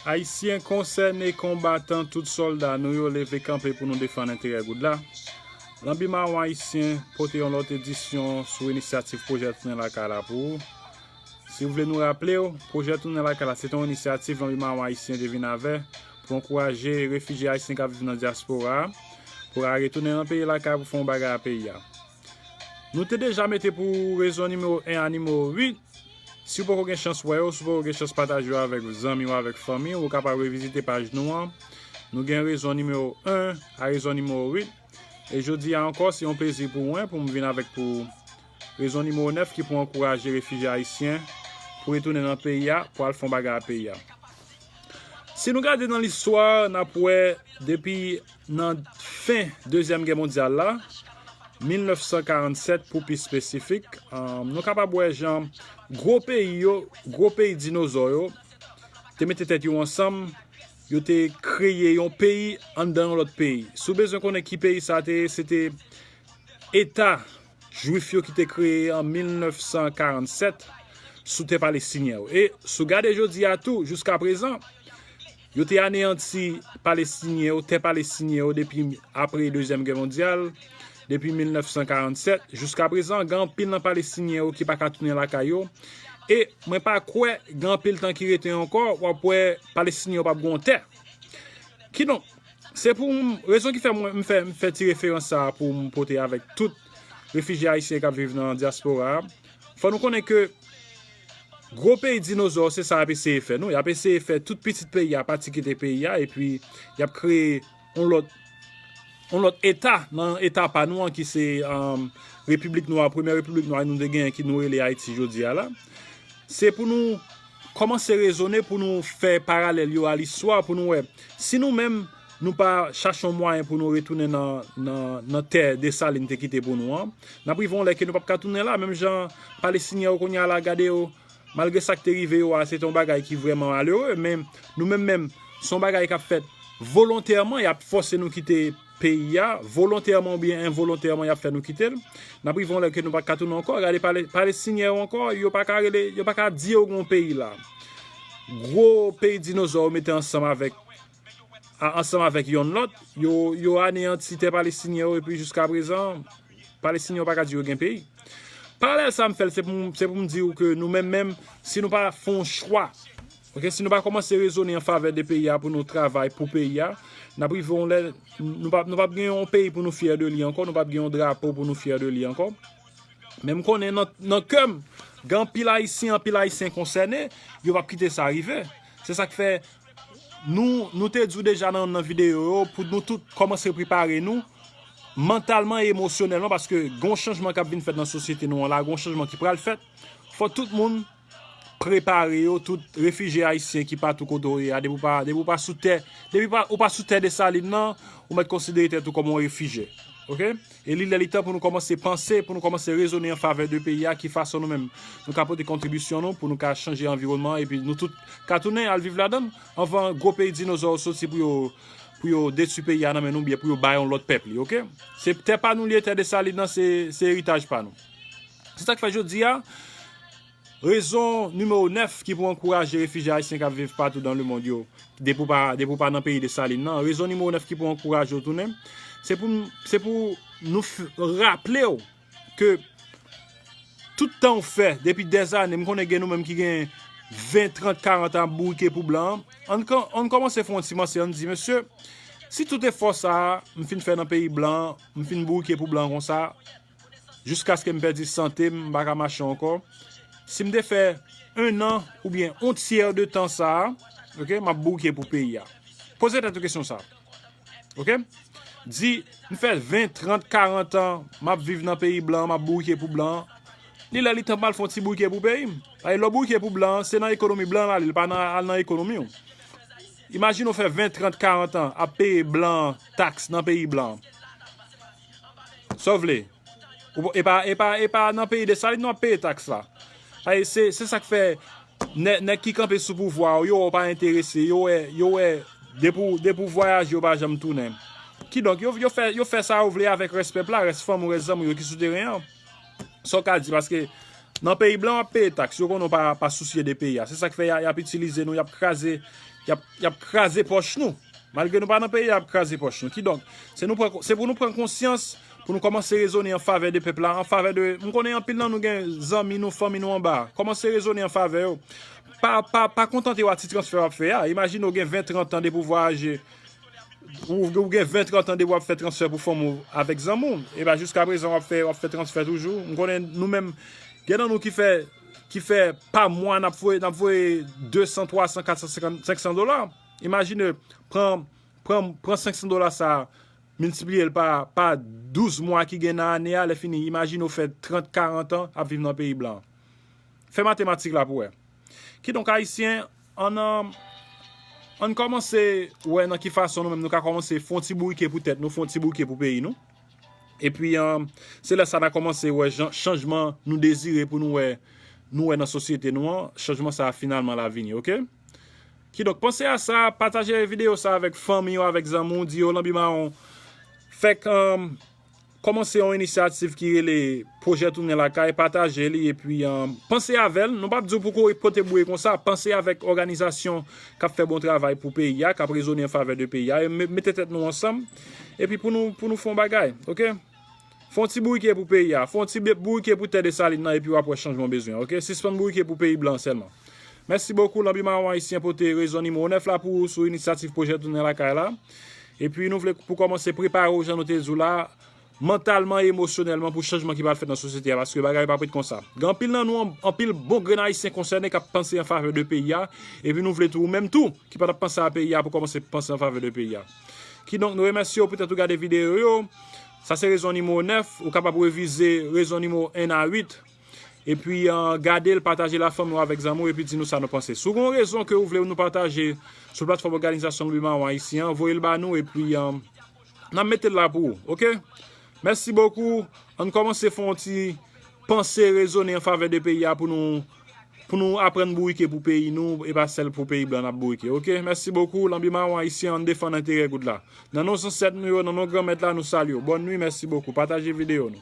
Ayisyen konsène konbatan tout sòlda nou yo leve kanpe pou nou defann enterè goud la. Lanbi Mawon Ayisyen pote yon lòt edisyon sou inisyativ pwojè Tounen Lakay la pou ou. Si ou vle nou raple ou, pwojè Tounen Lakay la se te yon inisyativ Lanbi Mawon Ayisyen te vin avè pou ankouraje refijye ayisyen k ap viv nan dyaspora a pou ra retounen nan peyi lakay pou fè yon bagay a peyi a. Nou te deja mete pou ou rezon nimewo 1 a nimewo 8. Si ou poko gen chans wè yo, si ou poko gen chans pataje yo avèk zanmi ou avèk fanmi ou, ou kapab revizite paj nou an. Nou gen rezon nimewo 1 a rezon nimewo 8. E jodi a ankò, se yon plezi pou mwen pou m vin avèk pou ou rezon nimewo 9 ki pou ankouraje refijye ayisyen pou retounen nan peyi a pou al fè yon bagay a peyi a. Si nou gade nan listwa, n ap wè depi. Nan fen Dezyèm Gè mondyal la, 1947 pou pi espesifik, nou kapab wè jan gwo peyi yo, gwo peyi dinozò yo, te mete tèt yo ansanm, yo te kreye yon peyi anndan yon lòt peyi. Si w bezwen konnen ki peyi sa te ye, se te Eta jwif yo ki te kreye an 1947 sou tè palestinyen yo. E si w gade jodi a tou, jiskaprezan, Yo te aneyanti Palestinyen yo, tè Palestinyen yo depi apre Dezyèm Gè Mondyal, depi 1947. Jiskaprezan, gen anpil nan Palestinyen yo ki pa ka tounen lakay yo. E mwen pa kwè gen anpil tan ki rete ankò w ap wè Palestinyen yo p ap gen yon tè. Kidonk, se pou m, rezon ki fè mwen m fè ti referans sa a pou m pote avèk tout refijye ayisyen k ap viv nan dyaspora a, fò nou konnen ke, Gwo peyi dinozò se sa yap eseye fè nou, yap eseye fè tout pitit peyi a pati kite peyi a epi yap kreye yon lòt yon lòt eta nan eta pa nou an ki se repiblik nwa premyè repiblik nwa nou te genyen ki nou rele Ayiti jodi a la se pou nou kòmanse rezone pou nou fè paralèl yo a listwa pou nou wè si nou menm Nou pa chache yon mwayen pou nou retounen nan tè Desalin te kite pou nou an. N ap rive yon lè ke nou p ap ka tounen la. Menm jan Palestinyen yo kounye a la, gade yo, malgre sa k te rive yo a, se te yon bagay ki vrèman malere. Men, nou menm menm, se yon bagay k ap fèt volontèman, y ap fòse nou kite peyi a. Volontèman oubyen envolontèman, y ap fè nou kite l. N ap rive yon lè ke nou pa t ka tounen ankò. Gade Palestinyen yo ankò, yo pa ka rele, yo pa ka di yo gen yon peyi la. Gwo peyi dinozò yo mete ansanm avèk. a ansanm avèk yonn lòt, yo yo aneyanti tè palestinyen yo epi jiskaprezan palestinyen yo pa ka di yo gen peyi. Paralèl sa a m fè l se pou se pou m di ou ke nou menm menm si nou pa fè yon chwa, ok, si nou pa kòmanse rezone an favè de peyi a pou nou travay pou peyi a, n ap rive yon lè nou pa nou p ap gen yon peyi pou nou fyè de li ankò, nou p ap gen yon drapo pou nou fyè de li ankò. Men m konnen nan nan kè m gen anpil ayisyen anpil ayisyen konsène, yo p ap kite sa rive. Se sa k fè Nou te di w deja nan yon nan videyo yo pou nou tout kòmanse prepare nou mantalman e emosyonèlman paske gon chanjman kap vin fèt nan sosyete nou an la, gon chanjman ki pral fèt fò tout moun prepare yo, tout refije ayisyen ki patou kote w ye a depi w pa sou tè depi w pa sou tè Dessalines nan ou mèt konsidere tèt ou kòm yon refije ok. E li lè li tan pou nou kòmanse panse, pou nou kòmanse rezone an favè de peyi a, ki fason nou menm nou ka pote kontribisyon nou pou nou ka chanje anviwònman an epi nou tout ka tounen al viv ladan l anvan gwo peyi dinozò yo soti pou yo pou yo detui peyi a nan men nou oubyen pou yo bay yon lòt pèp li ok. Se tè pa nou li ye tè Dessalines nan se eritaj pa nou. Se sa k fè jodi a. Rezon nimewo 9 ki pou ankouraje refijye ayisyen k ap viv patou dan lemond yo, depi w pa depi w pa nan peyi Desalin nan, rezon nimewo 9 ki pou ankouraje w tounen, se pou se pou nou raple w ke tout tan w fè depi dèzane, m konnen gen nou menm ki gen 20, 30, 40 an ap bourike pou blan an, ann ann kòmanse fè yon ti manse, ann di, mesye, si tout efò sa a m fin fè nan peyi blan an, m fin bourike pou blan an konsa, jiskaske m pèdi sante m, m pa ka mache ankò, si m te fè 1 an oubyen on tyè de tan sa a ok m ap bouke pou peyi a. Poze tèt ou kesyon sa a ok, di m fè 20, 30, 40 an m ap viv nan peyi blan an m ap bouke pou blan an, li lè li tan pou m al fè on ti bouke pou peyi m. Paske lè w bouke pou blan an se nan ekonomi blan an l ale l pa al nan ekonomi w. Imajine w fè 20, 30, 40 an ap peye blan an taks nan peyi blan an. Sa w vle? E pa e pa e pa nan peyi Desalin nou ap peye taks la. Sa e se se sa k fè nè nèg ki kanpe sou pouvwa w yo wè w pa enterese, yo wè yo wè depi w depi w vwayaje w pa janm tounen. Kidonk yo yo fè yo fè sa yo vle avèk rès pèp la, rès fanm ou rès zanmi w yo ki sou teren an. Sa w ka di paske nan peyi blan w ap peye taks yo konnen w pa sousye de peyi a se sak fè y ap itilize nou y ap kraze y ap kraze pòch nou malgre nou pa nan peyi a y ap kraze pòch nou kidonk se nou pran se pou nou pran konsyans pou nou kòmanse rezone an favè de pèp la an favè de m konnen anpil nan nou gen zanmi nou fanmi nou anba a kòmanse rezone an favè yo pa pa pa kontante w a ti transfè w ap fè a imajine w gen 20 30 tan de pouvwa aje Ou gen 20 30 ans depi wap fè transfè pou fanm ou avèk zanmi w e ba jiska prezan wap fè wap fè transfè toujou m konnen nou menm gen nan nou ki fè ki fè pa mwa nap voye nap voye 200 300 400 50 500 dola imajine pran pran pran 500 dola sa miltipliye l pa pa 12 mwa ki gen nan ane a lè fini imajine ou fè 30 40 ans ap viv nan peyi blan fè matematik la pou wè kidonk ayisyen Ann kòmanse wè nan ki fason nou menm nou ka kòmanse fè yon ti bourike pou tèt nou, fè yon ti bourike pou peyi nou. Epi, se lè sa n a kòmanse wè jan chanjman nou dezire pou nou wè nou wè nan sosyete nou an, chanjman sa a finalman l a vini ok. Kidonk, panse a sa, pataje videyo sa a avèk fanmi w, avèk zanmi w, di yo lanbi mawon fèk. Kòmanse yon inisyativ ki rele Pwojè Tounen Lakay, pataje li epi panse avè l. Nou p ap di w pou w kouri pote bouye konsa, panse avèk òganizasyon k ap fè bon travay pou peyi a, k ap rezone an favè de peyi a. Mete tèt nou ansanm epi pou nou pou nou fè yon bagay ok. Fè yon ti bourike pou peyi a, fè yon ti bourike pou tè Desalin nan epi w ap wè chanjman w bezwen ok. Sispann bourike pou peyi blan an sèlman. Mèsi bokou Lanbi Mawon Ayisyen pote rezon nimewo 9 la pou ou sou inisyativ pwojè Tounen Lakay la. Epi nou vle pou kòmanse prepare w jan nou te di w la, mantalman e emosyonèlman pou chanjman ki pral fèt nan sosyete a paske bagay yo pap ret konsa. Gen anpil nan nou, anpil bon grenn Ayisyen konsène k ap panse an favè de peyi a epi nou vle tou ou menm tou ki pa t ap panse a peyi a pou kòmanse panse an favè de peyi a. Kidonk nou remèsye w poutèt ou gade videyo yo. Sa se rezon nimewo 9, ou kapab revize rezon nimewo 1 a 8. Epi gade l, pataje l ak fanmi w avèk zanmi w epi di nou sa nou panse. Si w gen yon rezon ke ou vle nou pataje sou platfòm Òganizasyon Lwi Mawon Ayisyen an, voye l ba nou epi n ap mete l la pou ou. Oke! Mèsi bokou! An n kòmanse fè yon ti panse rezone an favè de peyi a pou nou pou nou aprann bourike pou peyi nou e pa sèl pou peyi blan n ap bourike. Oke! Mèsi bokou! Lanbi Mawon Ayisyen an n defann enterè goud la. Nan non zansèt nou yo, nan non Granmèt la nou salye w. Bòn nwi, mèsi bokou! Pataje videyo nou.